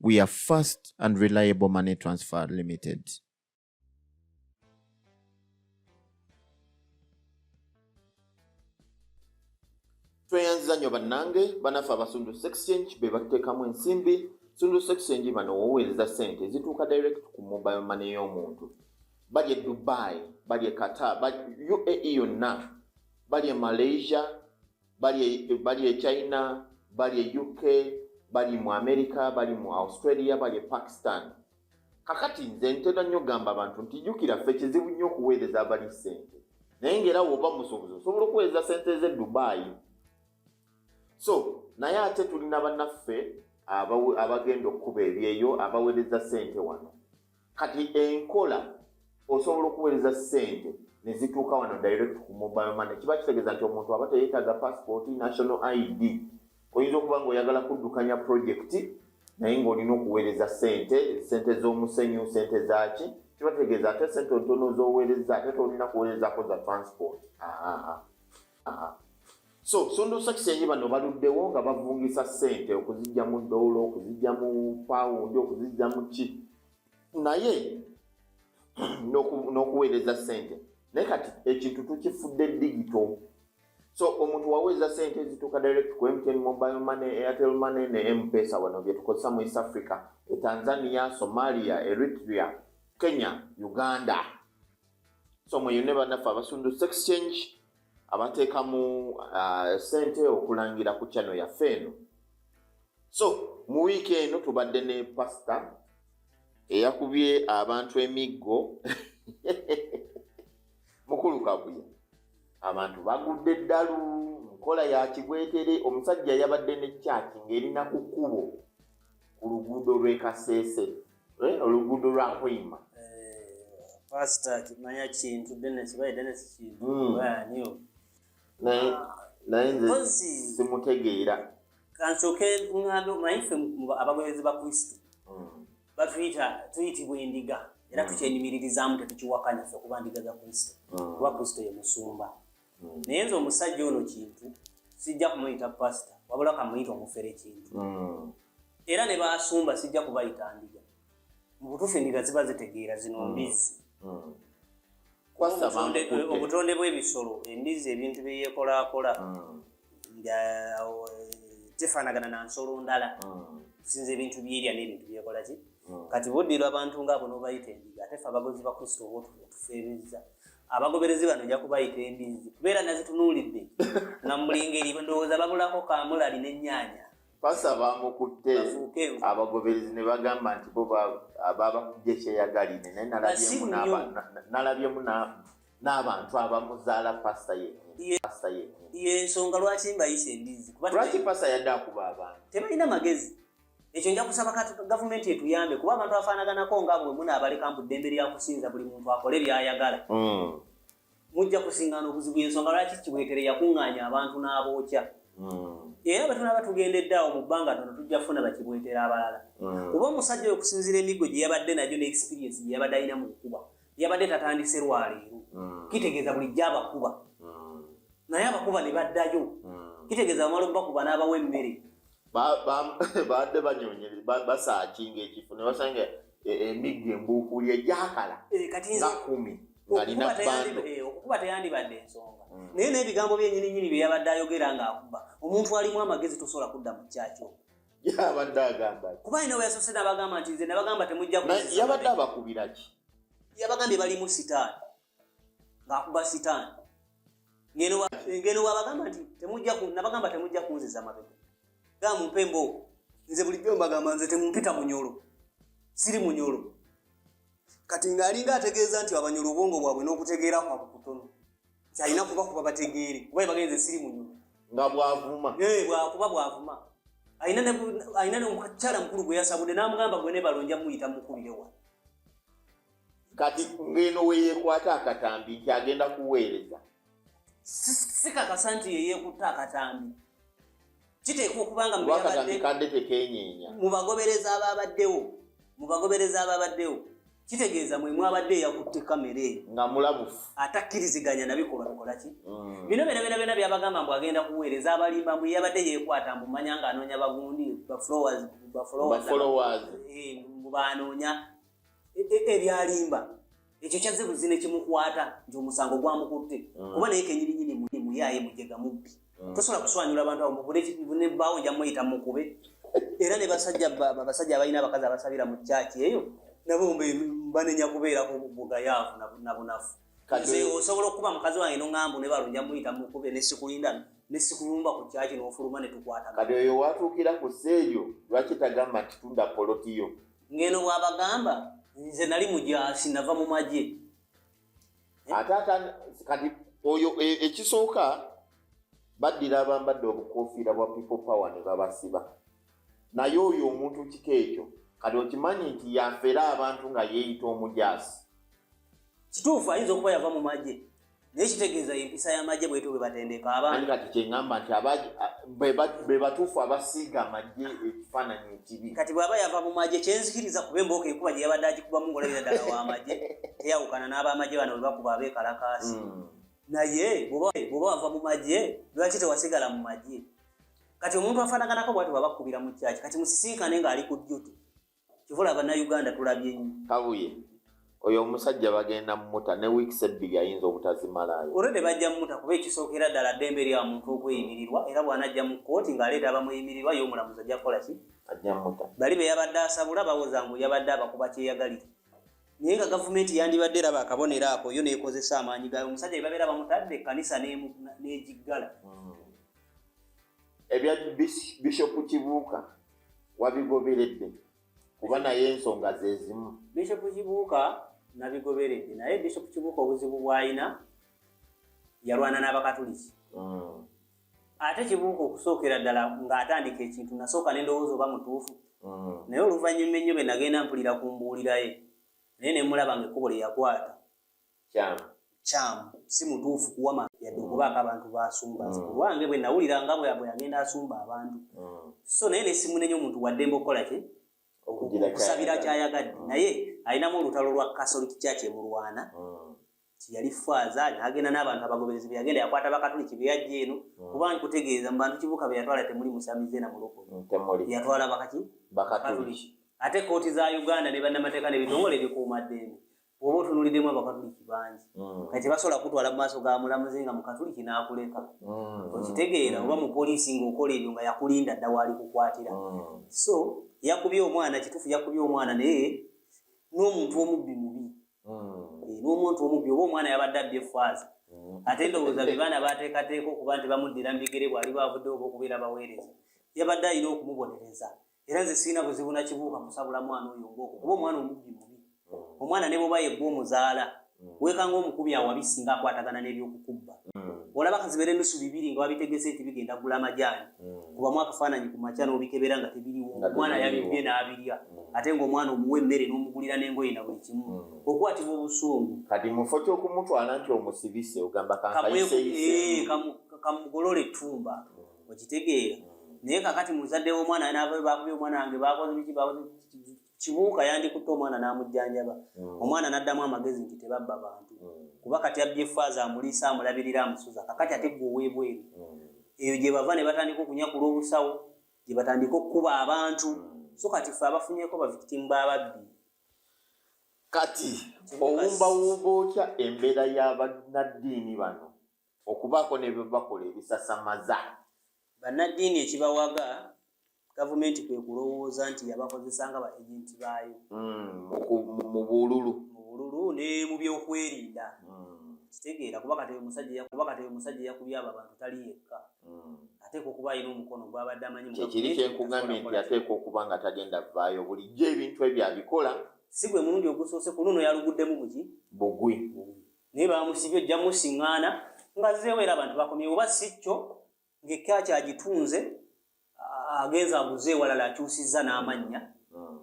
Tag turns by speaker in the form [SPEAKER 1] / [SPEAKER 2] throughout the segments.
[SPEAKER 1] we are fast and reliable money transfer limited. tweyanziza nnyo bannange banaffe abasundu exchange be batuteekamu ensimbi sundu exchange bano woweereza ssente zituuka direct ku mobile mane y'omuntu bali e dubai bali e qatar uae yonna bali e malaysia bali e, bali e China, bali e UK, bali mu America, bali mu Australia, bali e Pakistan. Kakati nze ntera nnyo gamba abantu nti jukira ffe kizibu nnyo okuweereza abali sente naye ngaera woba musuubuzi osobola okuweereza sente ze Dubai so naye ate tulina banaffe abagenda okukuba ebyeyo abaweereza sente wano kati enkola osobola okuweereza sente nezituuka wano direct ku mobile money kiba kitegeeza nti omuntu aba teyetaaga passport national id oyinza okuba nga oyagala kuddukanya project naye ngaolina okuweereza sente sente z'omusenyu sente zaki kiba kitegeeza ate sente ntono zoweereza ate tolina kuweerezako za transport so sondo sakisenyi bano baluddewo nga bavungisa ssente okuzijja mu dowulo okuzijja mu pawundi okuzijja mu ki naye n'okuweereza ssente naye kati ekintu tukifudde digito so omuntu waweereza ssente ezituuka direct ku mtn mobile money airtel money ne mpesa wano byetukozesa mu east africa e tanzania somalia eritrea kenya uganda so mweyune banaffe abasundu sex change abateekamu uh, sente okulangira ku kyano yaffe eno so mu wiiki eno tubadde ne pasita eyakubye abantu emiggo mukulu kabuya abantu bagudde eddalu nkola ya kibwetere omusajja yabadde ne kyaki ng'erina ku kkubo ku luguudo lw'e kaseese eh, oluguudo lwa nkoima
[SPEAKER 2] pasita kimanya kintu denesi baye denesi kintu hmm. baaniyo
[SPEAKER 1] naye nze simutegeera kansooke
[SPEAKER 2] ŋŋambe omanyi ffe abagoberezi ba kristo hmm. batuyita tuyitibwa endiga era hmm. tukyenyumiririzaamu tetukiwakanya ffe kuba ndiga za kristo hmm. kuba kristo ye musumba mm. naye nze omusajja ono kintu sijja kumuyita pasita wabula kamuyita omufere kintu mm. era ne basumba sijja kubayita ndiga mubutuufu endiga ziba zitegeera zino mm. mbizzi mm. obutonde bw'ebisolo embizzi ebintu byeyekolaakola mm. nga eh, tefaanagana na nsolo ndala tusinza mm. ebintu byerya n'ebintu byekola ki mm. kati buddira abantu ngaabo nobayita embizi ate fe abagozi ba kristo oba otufeebezza abagoberezi bano ojja kubayita embizi kubeera nazitunuulidde nga mulingeri ndowooza babulako kamulali n'ennyanya pasa
[SPEAKER 1] bamukutte abagoberezi ne bagamba nti bo babakujja ekyeyagalire naye nalabyemu n'abantu abamuzaala pasta yenyinipasta yenyini yensonga
[SPEAKER 2] lwaki mbayisa embizi lwaki pasta yadde
[SPEAKER 1] akuba abantu tebalina magezi
[SPEAKER 2] ekyo nja kusaba gavumenti etuyambe kuba abantu afaanaganako nga bwe munaabaleka mbu ddembe lya kusinza buli muntu akole byayagala hmm. mujja kusingana obuzibu yensonga lwaki kibwetere yakuŋŋaanya abantu n'abookya hmm. era bwe tunaaba tugendedde awo mu bbanga tono tujja kufuna bakibwetera abalala hmm. kuba omusajja oyo okusinziira emiggo gye yabadde nagyo ne experiensi gye yabadde alina mu kukuba yabadde tatandise lwaleero mm. kitegeeza bulijjo abakuba mm. naye abakuba ne baddayo mm. kitegeeza bamala okubakuba n'abawa emmere
[SPEAKER 1] baadde banyonyere basaakinga ekifo ne basanga e, emiggo embuukuuli egyakala eh, nga kumi ngalina bando eh, okukuba teyandibadde
[SPEAKER 2] ensonga naye n'ebigambo byenyininyini bye yabadde ayogera ng'akuba omuntu alimu amagezi tosobola kudda mu kyakyo yabadde
[SPEAKER 1] agamba kuba ino weyasose
[SPEAKER 2] nabagamba nti nze nabagamba temujja yabadde abakubira
[SPEAKER 1] ki yabagambye balimu
[SPEAKER 2] sitaani ngaakuba sitaani ngeno wabagamba nti temujja nabagamba temujja kunziza mabega ga mumpe embooko nze bulijjo mbagamba nze temumpita munyolo siri munyolo kati ng'alinga ategeeza nti abanyolo obwongo bwabwe n'okutegeera kwabwe kutono kyalina kuba kuba bategeere kuba ebagenze siri
[SPEAKER 1] muyo
[SPEAKER 2] nga bwavuma eh,
[SPEAKER 1] kuba
[SPEAKER 2] bwavuma alina nomukakyala mukulu gwe yasabudde namugamba gwe nebalonja muyita mukubirewa
[SPEAKER 1] kati ngeno weyekwata akatambi nti agenda kuweereza
[SPEAKER 2] sikakasa nti yeyekutta akatambi kiteekwa okuba nga mu
[SPEAKER 1] bagobereza abaabaddewo
[SPEAKER 2] mu bagobereza abaabaddewo kitegeeza mwe mwabadde eyakutte kamera eyo nga mulabufu
[SPEAKER 1] atakkiriziganya
[SPEAKER 2] nabikolwa bikola ki mm. bino byona byona byona byabagamba mbu agenda kuweereza abalimba mbu yabadde yekwata mbu manya nga anoonya bagundi baflowers eh, mbu banoonya e, e, ebyalimba ekyo kyazze buzi ne kimukwata nti omusango gwamukutte mm. kuba naye kenyininyini muyaaye mujega mubbi mm. tosobola kuswanyula abantu abo mubunebawo nja muyita mukube era ne basajja abasajja abalina abakazi abasabira mu kyaki eyo nabo banenya kubeerako bugayaavu nabunafu osobola okukuba mukazi wange noŋambu ne balunja muyita mukube nesikulinda nesikulumba ku kyaki nofuluma netukwata kati oyo watuukira
[SPEAKER 1] ku seeyo lwaki tagamba nti tunda polotiyo ngeno bwabagamba
[SPEAKER 2] nze nali mujasi nava mu magye eh?
[SPEAKER 1] atata kati oyo e, ekisooka baddira abambadde obukofiira bwa people power ne babasiba naye oyo omuntu kika ekyo kati okimanyi nti yafera abantu nga yeeyita omujasi
[SPEAKER 2] kituufu ayinza okuba yava mu magye naye kitegeeza empisa y'amagye bwetyo bwe batendeka abantu kati kyengamba nti
[SPEAKER 1] be batuufu abasiiga amagye ekifaananyi ekibi kati bw'aba yava mu magye
[SPEAKER 2] kyenzikiriza kuba embooka enkuba gye yabadde agikubamu ng'olabira ddala w'amagye teyawukana n'abamagye bano bwe bakuba abeekalakaasi hmm. naye bw'oba wava mu magye lwaki tewasigala mu magye kati omuntu afaanaganako bwati bwabakubira mu kyaki kati musisinkane ng'ali ku duty Kivula bannayuganda tulabye nnyo. Kabuye
[SPEAKER 1] oyo omusajja bagenda mumuta ne wiikisi ebbiri ayinza obutazimalaayo. Olwedde bajja mumuta
[SPEAKER 2] kuba ekisookera ddala ddembe lya muntu okweyimirirwa era bw'anajja mu kkooti ng'aleeta abamuyimirirwa ye omulamuzi ajja kukola ki? Ajja mumuta. Bali
[SPEAKER 1] be yabadde asabula
[SPEAKER 2] bawoza mbu yabadde abakuba kyeyagalire. Naye nga gavumenti yandibadde eraba akabonero ako yo n'ekozesa amaanyi gaayo omusajja bye babeera bamutadde ekkanisa n'egiggala. Hmm.
[SPEAKER 1] Ebya Bishop Kibuuka. wabigoberedde kuba naye ensonga zezimu bishop kibuuka
[SPEAKER 2] nabigoberedde naye bishop kibuuka obuzibu bwalina yalwana n'abakatuliki mm. ate kibuuka okusookera ddala ng'atandika ekintu nasooka nendowooza oba mutuufu mm. naye oluvannyuma ennyo be nagenda mpulira ku mbuuliraye naye nemulaba nga ekkubo lye yakwata kyamu kyamu si mutuufu kuwama yadde okubaako abantu basumba nze mm. kulwange bwe nawulira nga bweyabwe yagenda asumba abantu mm. so naye nesimunenya omuntu waddembe okukola ki okusabira kyayagadde mm. naye alinamu olutalo lwa catholic church emulwana tiyali faaza nagenda n'abantu abagoberezi beyagenda yakwata bakatuliki beyajja eno kuba nkutegeeza mu bantu kibuka beyatwala temuli musamize na mulokole yatwala bakaki bakatuliki ate kooti za uganda ne bannamateeka nebitongole ebikuuma ddembe oba otunuliddemu abakatuliki bangi mm. kati basobola kutwala mu maaso ga mulamuzi nga mukatuliki n'akuleka mm. okitegeera oba mu poliisi ng'okola ebyo nga yakulinda dda waali kukwatira mm. so yakubye omwana kituufu yakubye omwana naye n'omuntu omubbi mubi eh, n'omuntu omubbi oba omwana yabadde abbi efaaza ate ndowooza be baana baateekateeka okuba nti bamuddira mu bigere bwali baavuddewo oba okubeera baweereza yabadde alina okumubonereza era nze sirina buzibu nakibuuka kusabula mwana oyo ngooko kuba omwana omubbi mubi hmm. omwana ne bwoba yegwa omuzaala hmm. weekanga omukubi awabi singa akwatagana n'ebyokukubba hmm. olaba kazibere nusu bibiri nga wabitegese nti bigenda gula amajaani kubamu akafaananyi ku makya n'obikebera nga tebiriwo omwana yabibbye n'abirya ate ng'omwana omuwa emmere n'omugulira n'engoye na buli kimu okwatibwa obusungu kati mufo
[SPEAKER 1] kyokumutwala nti omusibise ogamba
[SPEAKER 2] kamugolole eh, etumba okitegeera naye kakati muzadde womwana navayo bakubye omwana wange bakoze biki bakoze kibuuka yandikutte omwana n'amujjanjaba mm. omwana n'addamu amagezi nti tebabba bantu mm. kuba kati abbye faaza amuliisa amulabirira amusuza kakati ate gwe oweebweru mm. eyo gye bava ne batandika okunyakula obusawo gye batandika okukuba abantu so kati fe abafunyeko bavikitimu bababbi
[SPEAKER 1] kati owumbawumba otya embeera y'abannaddiini bano okubaako ne bye bakola ebisasamaza bannaddiini
[SPEAKER 2] ekibawaga gavumenti kwe kulowooza nti yabakozesa nga baejenti baayo hmm,
[SPEAKER 1] mu bululu mu bululu ne
[SPEAKER 2] mu byokwerinda hmm. kitegeera kuba kati omusajja kuba kati omusajja yakubye abo abantu tali yekka hmm. ateeka okuba alina omukono gwabadde amanyi kyekiri kyenkugambye
[SPEAKER 1] nti ateeka okuba nga tagenda vaayo bulijjo ebintu ebyo abikola si gwe mulundi
[SPEAKER 2] ogusoose ku luno yaluguddemu buki bugwi
[SPEAKER 1] naye
[SPEAKER 2] bamusibye ojja musiŋŋaana nga zeewo era abantu bakomye oba si kyo ng'ekkaaki agitunze agenza aguze ewalala akyusizza n'amannya hmm.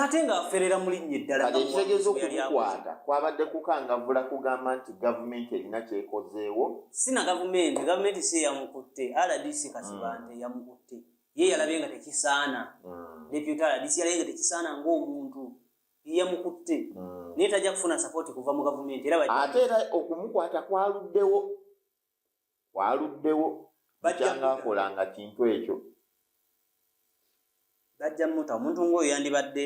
[SPEAKER 2] ate ng'aferera mu linnya eddalaekitegeeza okukwata
[SPEAKER 1] kwabadde kukangavula kugamba nti gavumenti erina kyekozeewo si na gavumenti
[SPEAKER 2] gavumenti si eyamukutte rdc kasibante hmm. yamukutte ye yalabye nga tekisaana hmm. deputy rdc yalabye nga tekisaana ng'omuntu yeyamukutte mm. naye tajja kufuna sapooti kuva mu gavumenti era ate era
[SPEAKER 1] okumukwata kwaluddewo kwaluddewo bajjanga akolanga kintu ekyo
[SPEAKER 2] bajja muta omuntu ngaoyo yandibadde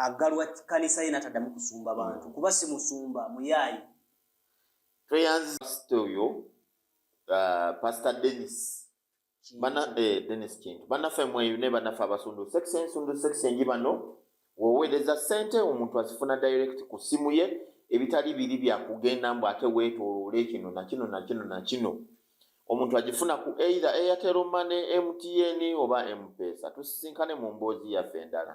[SPEAKER 2] aggalwa kanisa ye nataddamu kusumba bantu kuba si musumba muyaayi tweyanzisita
[SPEAKER 1] oyo uh, pastor denis bana eh, Dennis Kintu banaffe mweyune banaffe abasundu sex ensundu sex enji bano woweereza sente omuntu azifuna direct ku simu ye ebitali biri bya kugenda mbu ate weetooloole kino na kino na kino na kino omuntu agifuna ku either Airtel Money, MTN oba M-Pesa. Tusisinkane mu mboozi yaffe endala.